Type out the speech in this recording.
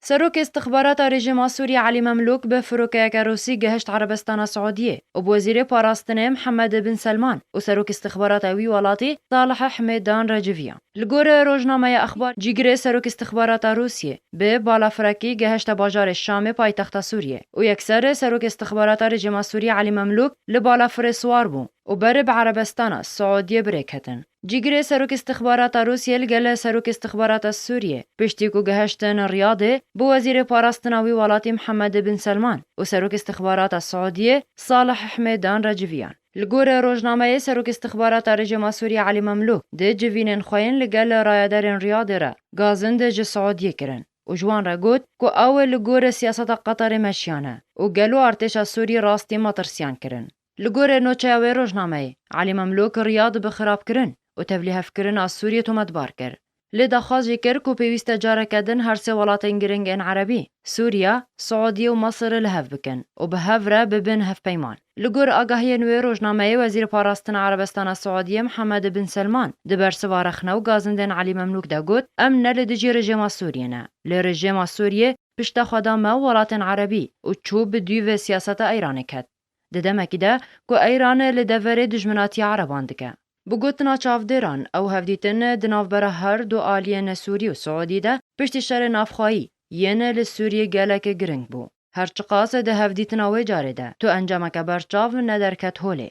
Serokê Îstixbarata Rejîma Sûriyê Elî Memlûk bi firokeyeke Rûsî gihişt Erebistana Siûdiyê û bi Wezîrê Parastinê Mihemed Bin Selman û Serokê Îstixbarata wî welatî Salih Hemêdan re civiya. Li gor rojnameya Axbar, cîgirê Serokê Îstixbarata Rûsiyê bi balafirekî gihişte bajarê Şamê paytexta Sûriyê û yekser Serokê Îstixbarata Rejîma Sûriyê Elî Memlûk li balafirê siwar bû û berê bi Erebistana Siûdiyê birêketin. Cîgirê Serok Îstixbarata Rûsyê li gel Serok Îstixbarata Sûriyê piştî ku gihiştin Riyadê bi Wezîrê Parastina wî welatî Mihemed Bin Selman û Serok Îstixbarata Siûdiyê Salih Himêdan re civiyan. Li gor rojnameyê Serok Îstixbarata Rejîma Sûriyê Elî Memlûk di civînên xwe yên li gel rayedarên Riyadê re gazind ji Siûdiyê kirin û ji wan re got ku ew li gor siyaseta Qetarê meşiyane û gelo artêşa Sûrî rastî matirsiyan kirin. Li gorî nûçeya wê rojnameyê, Elî Memlûk riya di bi xirabkirin û tevlîhevkirina Sûriyê tometbar kir. Lê daxwaz jî kir ku pêwîst e careke din her sê welatên giring ên Erebî, Sûriye, Siûdiyê û Misir li hev bikin û bi hev re bibin hevpeyman. Li gor agahiyên wê rojnameyê Wezîrê Parastina Erebistana Siûdiyê Mihemed Bin Selman di bersiva rexne û gazindên Elî Memlûk de got, Em ne li dijî rejêma Sûriyê ne, lê rejêma Sûriyê piştexwe da me û welatên Erebî û çû bi duyî vê siyaseta Îranê ket. Di demekî de ku Eyran li deverê dijminatî ereban dike. Bi gotina çavdêran, ew hevdîtin di navbera her du aliyên Sûrî û Siûdî de piştî şerê navxwayî yên li Sûrî gelek giring bû. Her çiqas di hevdîtina wê carê de tu encameke berçav nederket holê.